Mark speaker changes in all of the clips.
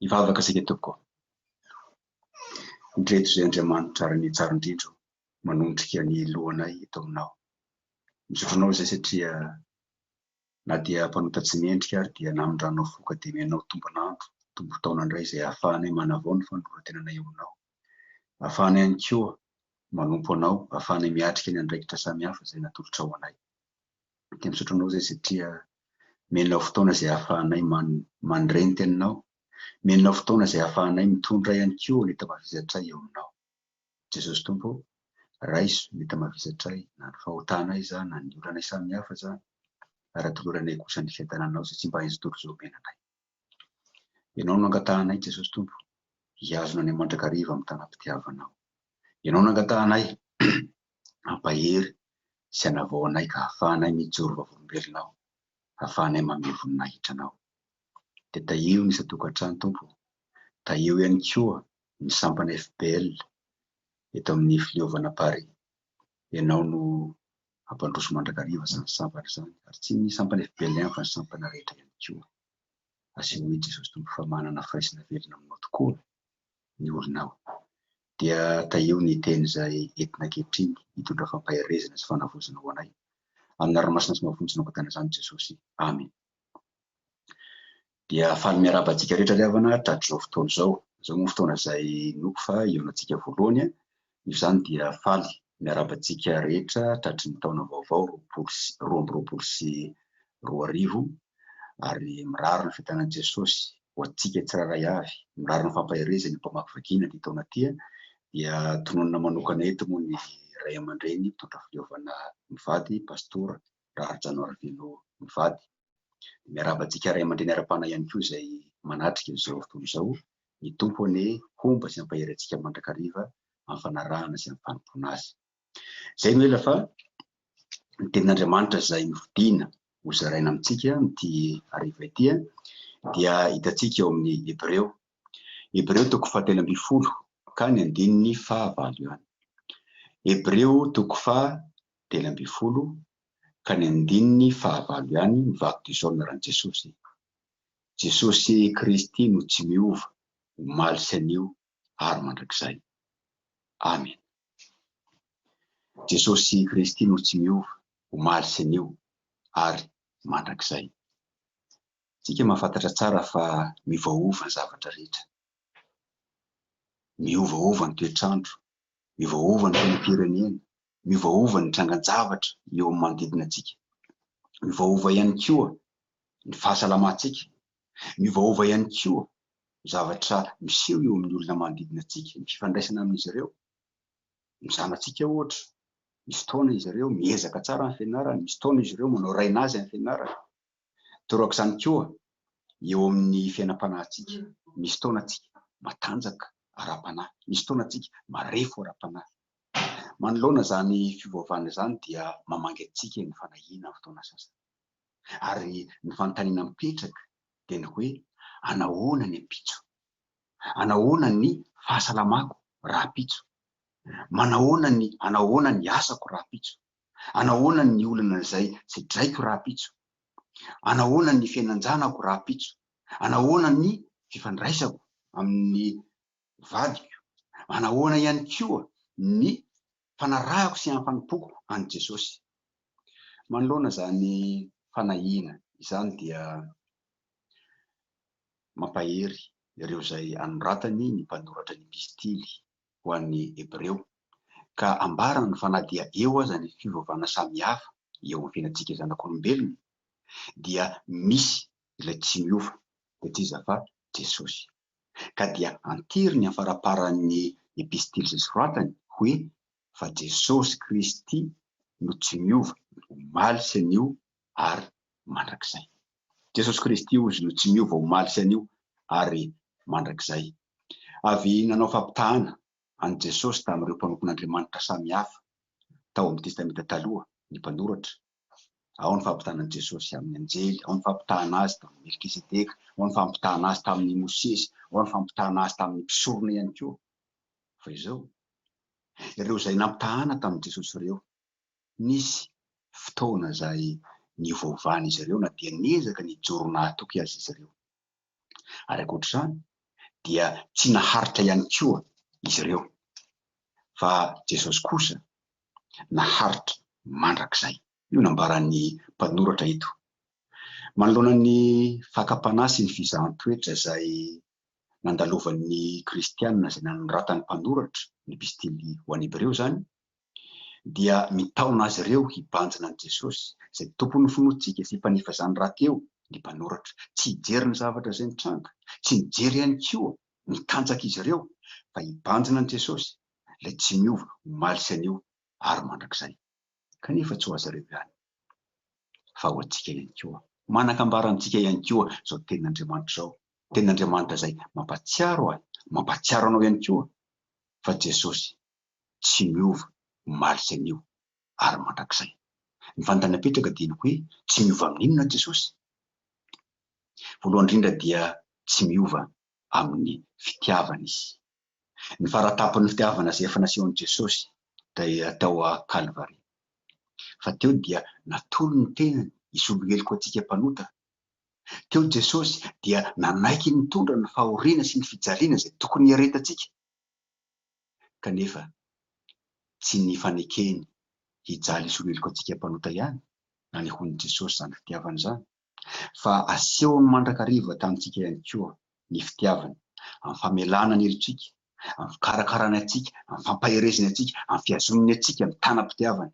Speaker 1: Hivavaka isika tompoko ô. Ndreto izay Andriamanitra ary ny tsara indrindro manondrika ny lohanay eto aminao. Misaotra anao izay satria na dia mpanota tsy mendrika ary dia namindranao fo ka dia mianao tombon'andro, tombon-taona indray izay ahafahanay manavao ny fanoloran-tenanay eo aminao. Ahafahanay ihany koa manompo anao, ahafahanay miatrika ny andraikitra samihafa izay natolotrao anay. dia misaotra anao izay satria menao fotoana izay ahafahanay mandre ny teninao, menao fotoana izay ahafahanay mitondra ihany koa ny tamavizatray eo aminao. Jesosy Tompo ô, raiso ny tamavizatray na ny fahotana izany na ny olanay samihafa izany, ary atoloranay kosa ny fiadananao izay tsy mba haintsy tory izao omena anay. Ianao no nangatahanay, Jesosy Tompo, hihazona anay mandrakariva amin'ny tanam-pitiavanao. Ianao nangatahanay, ampahery sy anavao anay ka hahafahanay mijoro vavolombelona ao, hahafahanay mamehy voninahitra anao. Dia tahiho ny isan-tokantrano, Tompo ô, tahiho ihany koa ny sampana FPL eto amin'ny fileovana Paris. Ianao no hampandroso mandrakariva izany sampana izany, ary tsy ny sampana efa be lenta fa ny sampana rehetra ihany koa. Asehon'i i Jesosy Tompo fa manana firaisana velona aminao tokoa ny olona ao. Dia tahiho ny teny izay entina ankehitriny hitondra fampaherezana sy fanavaozana ho anay. Amin'ny anarany masina sy mafonja no angatahina izany Jesosy. Amena. Dia faly miarahaba antsika rehetra ry havana hatratr'izao fotoana izao. Izao moa fotoana izay inoako fa hihaonantsika voalohany an! Noho izany dia faly miarahaba antsika rehetra tratry ny taona vaovao roapolo sy roa amby roapolo sy roa arivo ary mirary ny fitanan'i Jesosy ho antsika tsirairay avy, mirary ny fampaherezany ho mpamaky vakiana ity taona ity an! Dia tononina manokana eto moa ny Ray aman-dReny mpitondra fileovana mivady, Pastora Raharijaona Ravello mivady. Dia miarahaba antsika ray aman-dreny ara-panahy ihany koa izay manatrika izao tontolo izao. Ny Tompo anie homba sy hampahery antsika mandrakariva amin'ny fanarahana sy amin'ny fanompoana Azy. Izay no ela fa ny tenin'Andriamanitra izay nofidina ho zaraina amintsika amin'ity hariva ity dia hitantsika ao amin'ny Hebreo. Hebreo toko fahatelo ambin'ny folo ka ny andininy fahavalo ihany. Hebreo toko fahatelo ambin'ny folo ka ny andininy fahavalo ihany ny vatoison naran'i Jesosy. Jesosy Kristy no tsy miova, omaly sy anio ary mandrakizay. Amena. Jesosy Kristy no tsy miova, omaly sy anio ary mandrakizay. Tsika mahafantatra tsara fa miovaova ny zavatra rehetra. Miovaova ny toetrandro, miovaova ny fiainam-pirenena, miovaova ny trangan-javatra eo amin'ny manodidina antsika. Miovaova ihany koa ny fahasalamantsika. Miovaova ihany koa ny zavatra miseho eo amin'ny olona manodidina antsika, ny fifandraisana amin'izy ireo. Ny zanatsika ohatra, misy fotoana izy ireo miezaka tsara amin'ny fianarany, misy fotoana izy ireo manao raina azy amin'ny fianarany. Torak'izany koa eo amin'ny fiainam-panahintsika. Misy fotoana tsika matanjaka ara-panahy, misy fotoana tsika marefo ara-panahy. Manoloana izany fiovaovana izany dia mamangy antsika ny fanahiana amin'ny fotoana sasany. Ary ny fanontaniana mipetraka dia ny hoe, anahoana ny ampitso? Anahoana ny fahasalamako rahampitso? Manahoana ny anahoana ny asako rahampitso? Anahoana ny olana izay tsedraiko rahampitso? Anahoana ny fiainan-janako rahampitso? Anahoana ny fifandraisako amin'ny vadiko, manahoana ihany koa ny fanarahako sy hampanompoko an'i Jesosy. Manoloana izany fanahiana izany dia mampahery ireo izay anoratany ny mpanoratra ny Epistily ho an'ny Hebreo, ka ambarany fa na dia eo aza ny fiovaovana samihafa eo amin'ny fiainantsika zanak'olombelona, dia misy ilay tsy miova, dia tsy iza fa Jesosy. ka dia anteriny amin'ny faramparan'ny epistily izay soratany hoe, Fa Jesosy Kristy no tsy miova, omaly sy anio ary mandrakizay. Jesosy Kristy, hozy, no tsy miova omaly sy anio ary mandrakizay. Avy nanao fampitahana an'i Jesosy tamin'ireo mpanompon'Andriamanitra samihafa tao amin'ny Testamenta Taloha ny mpanoratra. Ao ny fampitana an'i Jesosy amin'ny anjely, ao ny fampitana azy tamin'i Melkisedeka, ao ny fampitana azy tamin'i Mosesy, ao ny fampitana azy tamin'ny mpisorona ihany koa. Fa izao, ireo izay nampitahana tamin'i Jesosy ireo, nisy fotoana izay niovaovan'izy ireo na dia niezaka nijoro nahatoky aza izy ireo. ary ankoatra izany dia tsy naharitra ihany koa izy ireo fa Jesosy kosa naharitra mandrakizay. Io nambaran'ny mpanoratra eto, manoloana ny fakam-panahy sy ny fizahan-toetra izay nandalovan'ny kristiana izay nanoratan'ny mpanoratra ny epistily ho an'ny Hebreo izany, dia mitaona azy ireo hibanjina an'i Jesosy, izay Tompon'ny finoantsika sy Mpanefy izany raty eo, ny mpanoratra. Tsy hijery ny zavatra izay mitranga, tsy mijery ihany koa ny tanjaka izy ireo, fa hibanjina an'i Jesosy, ilay tsy miova omaly sy anio ary mandrakizay. Kanefa tsy ho azy ireo ihany, fa ho antsika ihany koa. Manan-kambara amintsika ihany koa izao Tenin'Andriamanitra izao, Tenin'Andriamanitra izay mampahatsiaro ahy, mampahatsiaro anao ihany koa, fa Jesosy tsy miova omaly sy anio ary mandrakizay. Ny fanontaniana apetraka dia ny hoe tsy miova amin'inona Jesosy? Voalohany indrindra dia tsy miova amin'ny fitiavana Izy. Ny faratapon'ny fitiavana izay efa nasehon'i Jesosy dia tao Kalvary. Fa teo dia natolo ny tenany hisolo heloka antsika mpanota. Teo Jesosy dia nanaiky nitondra ny fahoriana sy ny fijaliana izay tokony hiaretantsika. kanefa tsy ny fanekeny hijaly hisoloheloka antsika mpanota ihany na ny hono Jesosy izany fitiavana izany fa asehony mandrakariva tamintsika ihany koa ny fitiavany amin'ny famelana ny helotsika, amin'ny fikarakarany antsika, amin'ny fampaherezany antsika, amin'ny fihazonany antsika mitana-pitiavana.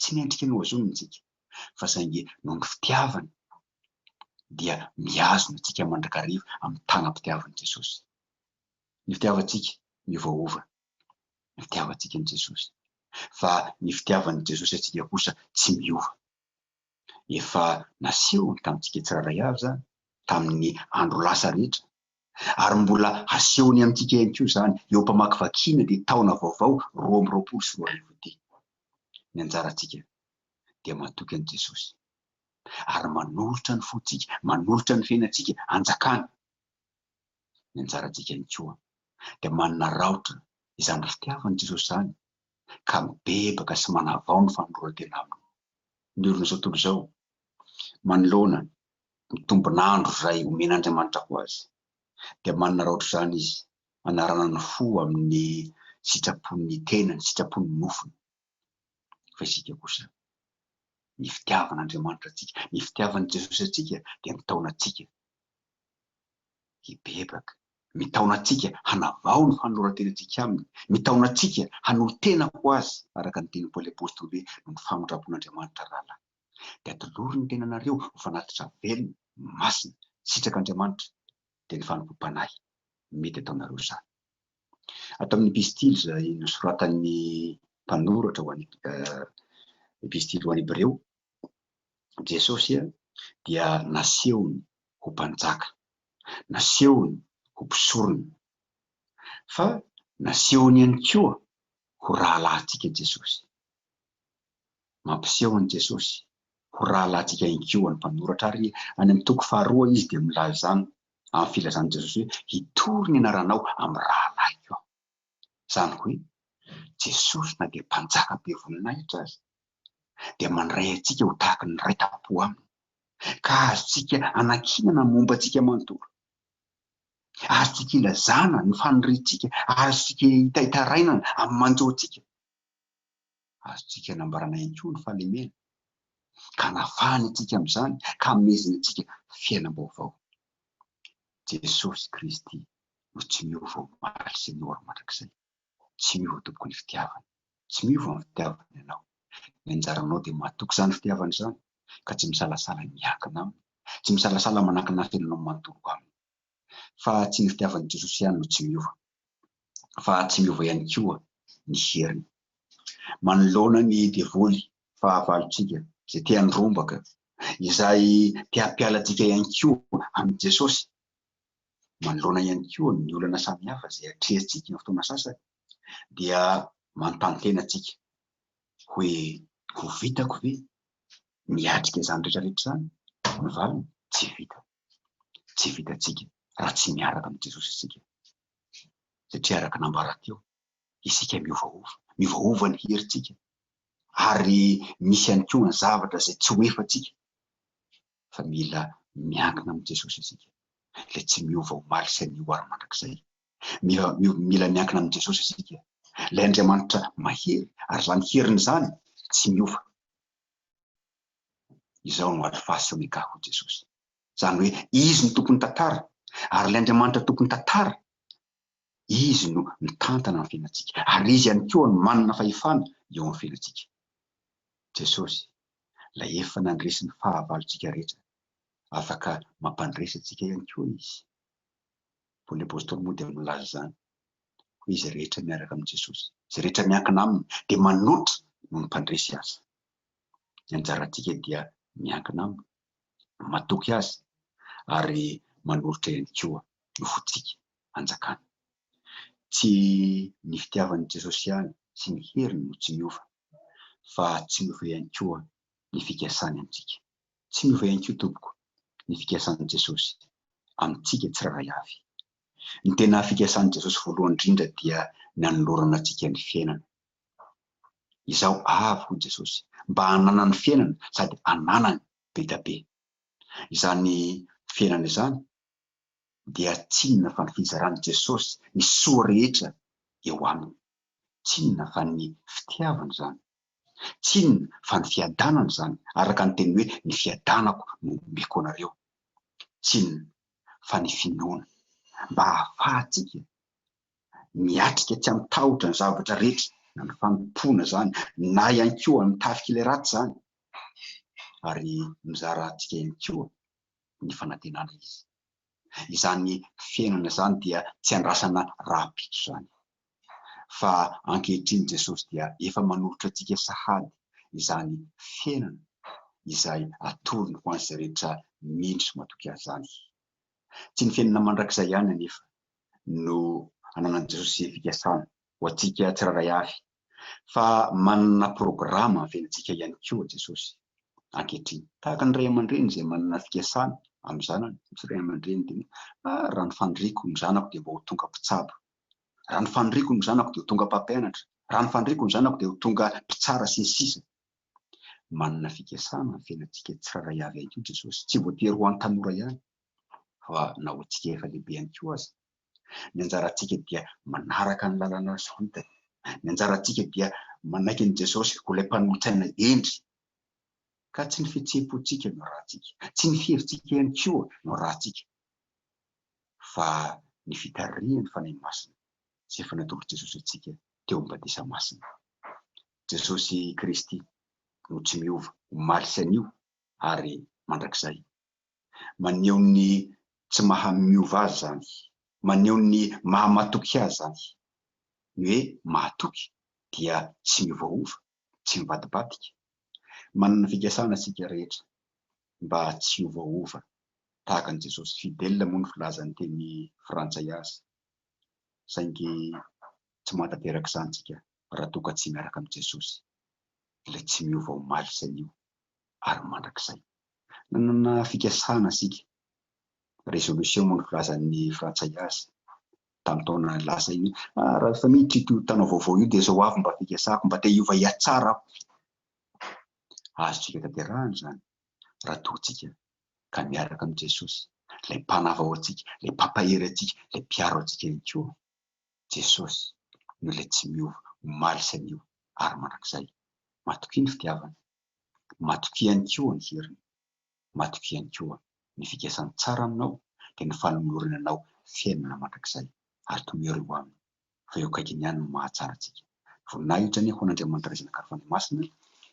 Speaker 1: Tsy ny endrika no azoniny isika, fa saingy noho ny fitiavany dia mihazona antsika mandrakariva amin'ny tanam-pitiavan'i Jesosy. Ny fitiavantsika miovaova ny fitiavantsika an'i Jesosy, fa ny fitiavan'i Jesosy antsika kosa tsy miova. Efa nasehony tamintsika tsirairay avy izany, tamin'ny andro lasa rehetra, ary mbola hasehony amintsika ihany koa izany eo am-pamakivakiana ity taona vaovao roa amby roapolo sy roa arivo ity. Ny anjarantsika dia matoky an'i Jesosy ary manolotra ny fontsika, manolotra ny fiainantsika hanjakany. Ny anjarantsika ihany koa dia manararaotra izany fitiavan'i Jesosy izany ka mibebaka sy manavao ny fanoloran-tena aminy. Ny orin'izao tontolo izao manoloana ny tombon'andro izay omen'Andriamanitra ho azy, dia manana raotra izany izy hanarana ny fo amin'ny sitrapon'ny tenany, sitrapon'ny nofony. Fa isika kosa, ny fitiavan'Andriamanitra antsika, ny fitiavan'i Jesosy antsika dia mitaona antsika hibebaka, mitaona antsika hanavao ny fanoloran-tenantsika Aminy, mitaona antsika hanolo-tena ho Azy, araka ny tenin'i Paoly Apostoly hoe, noho ny famindram-pon'Andriamanitra rahalahy. dia tolory ny tenanareo ho fanatitra velona, masina, sitraka Andriamanitra, dia ny fanompoam-panahy. Mety ataonareo izany. Ato amin'ny Epistily izay nosoratan'ny mpanoratra ho an'ny Epistily ho an'ny Hebreo, Jesosy dia nasehony ho mpanjaka, nasehony ho mpisorona, fa nasehony ihany koa ho rahalahintsika Jesosy. Mampiseho an'i Jesosy ho rahalahintsika ihany koa ny mpanoratra, ary any amin'ny toko faharoa izy dia milaza izany amin'ny filazan'i Jesosy hoe, Hitory ny anaranao amin'ny rahalahiko aho. Izany hoe, Jesosy na dia Mpanjaka be voninahitra aza, dia mandray antsika ho tahaka ny Ray tam-po aminy, ka azontsika anankinana ny momba antsika manontolo. Azontsika ilazana ny faniriantsika, azontsika itaitarainana amin'ny manjo antsika. Azontsika anambarana ihany koa ny fahalemena, ka anafahany antsika amin'izany ka amezany antsika fiainam-baovao. Jesosy Kristy no tsy miova omaly sy ny ora mandrakizay. Tsy miova tompoko ny fitiavany. Tsy miova ny fitiavany anao. Ny anjaranao dia matoky izany fitiavany izany, ka tsy misalasala miankina aminy, tsy misalasala manankina ny fiainanao manontolo aminy. fa tsy ny fitiavan'ny Jesosy ihany no tsy miova, fa tsy miova ihany koa ny heriny. Manoloana ny devoly fahavalontsika izay te handrombaka, izay te hampiala antsika ihany koa amin'i Jesosy, manoloana ihany koa ny olana samihafa izay atrehintsika amin'ny fotoana sasany, dia manontany tena antsika hoe ho vitako ve miatrika izany rehetra rehetra izany? Ny valiny, tsy vitany. tsy vitantsika raha tsy miaraka amin'i Jesosy isika. Satria araka nambara teo, isika miovaova. Miovaova ny herintsika ary misy ihany koa ny zavatra izay tsy ho efantsika. Fa mila miankina amin'i Jesosy isika, ilay tsy miova omaly sy anio ary mandrakizay. Mila, mila miankina amin'i Jesosy isika, ilay Andriamanitra mahery, ary izany heriny izany tsy miova. Izao no ady fasika ny ka hoy Jesosy. Izany hoe Izy no tompon'ny tantara ary ilay Andriamanitra tompon'ny tantara, Izy no mitantana ny fiainantsika ary Izy ihany koa no manana fahefana eo amin'ny fiainantsika. Jesosy, ilay efa nandresy ny fahavalontsika rehetra, afaka mampandresy antsika ihany koa Izy. Paoly Apostoly moa dia milaza izany hoe izay rehetra miaraka amin'i Jesosy, izay rehetra miankina Aminy dia manoatra noho ny mpandresy azy. ny anjarantsika dia miankina aminy, matoky azy ary manolotra ihany koa ny fontsika hanjakany. Tsy ny fitiavan'i Jesosy ihany sy ny heriny no tsy miova, fa tsy miova ihany koa ny fikasany amintsika. Tsy miova ihany koa, tompoko, ny fikasan'i Jesosy amintsika tsirairay avy. Ny tena fikasan'i Jesosy voalohany indrindra dia ny hanolorana antsika ny fiainana Izaho avy, hoy Jesosy, mba hananany fiainana sady hananany be dia be. Izany fiainana izany dia tsy inona fa ny fizaran'i Jesosy ny soa rehetra eo aminy. Tsy inona fa ny fitiavany izany. Tsy inona fa ny fiadanany izany, araka ny teny hoe ny fiadanako no omeko anareo. Tsy inona fa ny finoana, mba hahafahantsika miatrika tsy amin'ny tahotra ny zavatra rehetra na ny fanompoana izany na ihany koa ny tafik'ilay ratsy izany ary mizara antsika ihany koa ny fanantenana izy. Izany fiainana izany dia tsy andrasana rahampitso izany fa ankehitriny Jesosy dia efa manolotra antsika sahady izany fiainana izay atorony ho an'izay rehetra mino sy matoky azy izany. Tsy ny fiainana mandrakizay ihany anefa no ananan'i Jesosy izay fikasana ho antsika tsirairay avy, fa manana programa havelantsika ihany koa Jesosy ankehitriny. Tahaka ny ray aman-dreny izay manana fikasana amin'ny zanany, misy ray aman-dreny dia hoe, ah, raha ny faniriako ny zanako dia mba ho tonga mpitsabo, raha ny faniriako ny zanako dia ho tonga mpampianatra, raha ny faniriako ny zanako dia ho tonga mpitsara sy ny sisa. Manana fikasana havelantsika tsirairay avy ihany koa Jesosy, tsy voatery ho an'ny tanora ihany, fa na ho antsika efa lehibe ihany koa aza. Ny anjarantsika dia manaraka ny lalana soritany. Ny anjarantsika dia manaiky an'i Jesosy ho ilay Mpanolotsaina hendry. Ka tsy ny fihetseham-pontsika no ratsika, tsy ny fihevitsika ihany koa no ratsika, fa ny fitarihany Fanahy Masina izay efa natolotr'i Jesosy antsika teo amin'ny Batisa Masina. Jesosy Kristy no tsy miova, omaly sy anio ary mandrakizay. Maneho ny tsy maha-miova azy izany. Maneho ny maha-matoky azy izany. Ny hoe mahatoky dia tsy miovaova, tsy mivadibadika. Manana ny fikasana isika rehetra mba tsy hiovaova tahaka an'i Jesosy. Fidèle moa ny filazan'ny teny frantsay azy, saingy tsy mahatanteraka izany isika raha toa ka tsy miaraka amin'i Jesosy, ilay tsy miova omaly sy anio, ary mandrakizay. Nanana fikasana isika, résolution moa no filazan'ny frantsay azy tamin'ny taona lasa iny, ah raha efa miditra ito taona vaovao io dia izao avy mba fikasako, mba te hiova hiatsara aho. Azontsika tanterahana izany raha toa tsika ka miaraka amin'i Jesosy, ilay mpanavao antsika, ilay mpampahery antsika, ilay mpiaro antsika ihany koa. Jesosy no ilay tsy miova omaly sy anio ary mandrakizay. Matokia ny fitiavany. Matokia ihany koa ny heriny. Matokia ihany koa ny fikasany tsara aminao, dia ny fanolorany anao fiainana mandrakizay, ary tomero eo Aminy, fa eo akaikiny ihany no mahatsara antsika. Voninahitra anie ho an'Andriamanitra Ray Zanaka ary Fanahy Masina,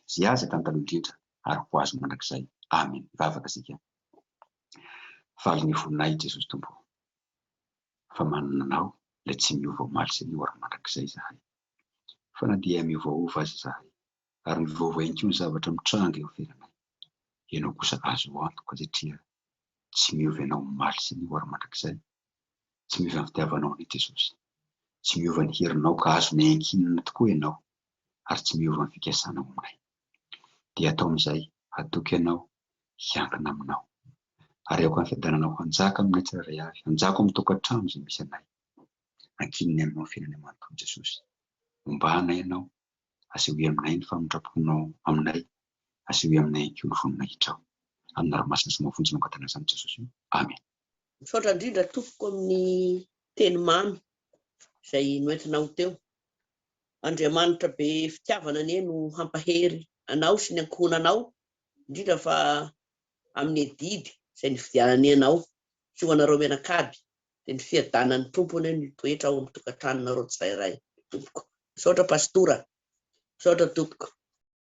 Speaker 1: Izay azy hatrany taloha indrindra, ary ho Azy mandrakizay. Amena. Mivavaka isika. Valiny voninahitra Jesosy Tompo o, fa manana Anao, Ilay tsy miova omaly sy anio ary mandrakizay izahay. Fa na dia miovaova aza izahay, ary mivaovao ihany koa ny zavatra mitranga eo am-piainanay. Ianao kosa azo antoka satria tsy miova ianao omaly sy ny ho ary mandrakizay. Tsy miova ny fitiavanao an'i Jesosy. Tsy miova ny herinao ka azonay ankinina tokoa ianao ary tsy miova ny fikasanao aminay. Dia atao amin'izay hatoky ianao hiankina aminao. Ary aoka ny fiadananao hanjaka aminay tsirairay avy, hanjaka ao amin'ny tokantrano izay misy anay. Ankinina aminao ny fiainanay manontolo Jesosy. Ombana ianao Asehoy aminay ny famindram-ponao aminay. Asehoy aminay ihany koa ny voninahitrao. Amin'ny ranomasina sy ny mafonja no angatahina izany Jesosy o. Amen. Misaotra indrindra
Speaker 2: tompoko amin'ny teny mamy izay noentinao teo. Andriamanitra be fitiavana anie no hampahery anao sy ny ankohonanao indrindra fa amin'ny adidy izay nividianany anao sy ho anareo mianakavy Dia ny fiadanan'ny Tompo anie no hitoetra ao amin'ny tokantranonareo tsirairay tompoko. Misaotra Pastora. Misaotra tompoko.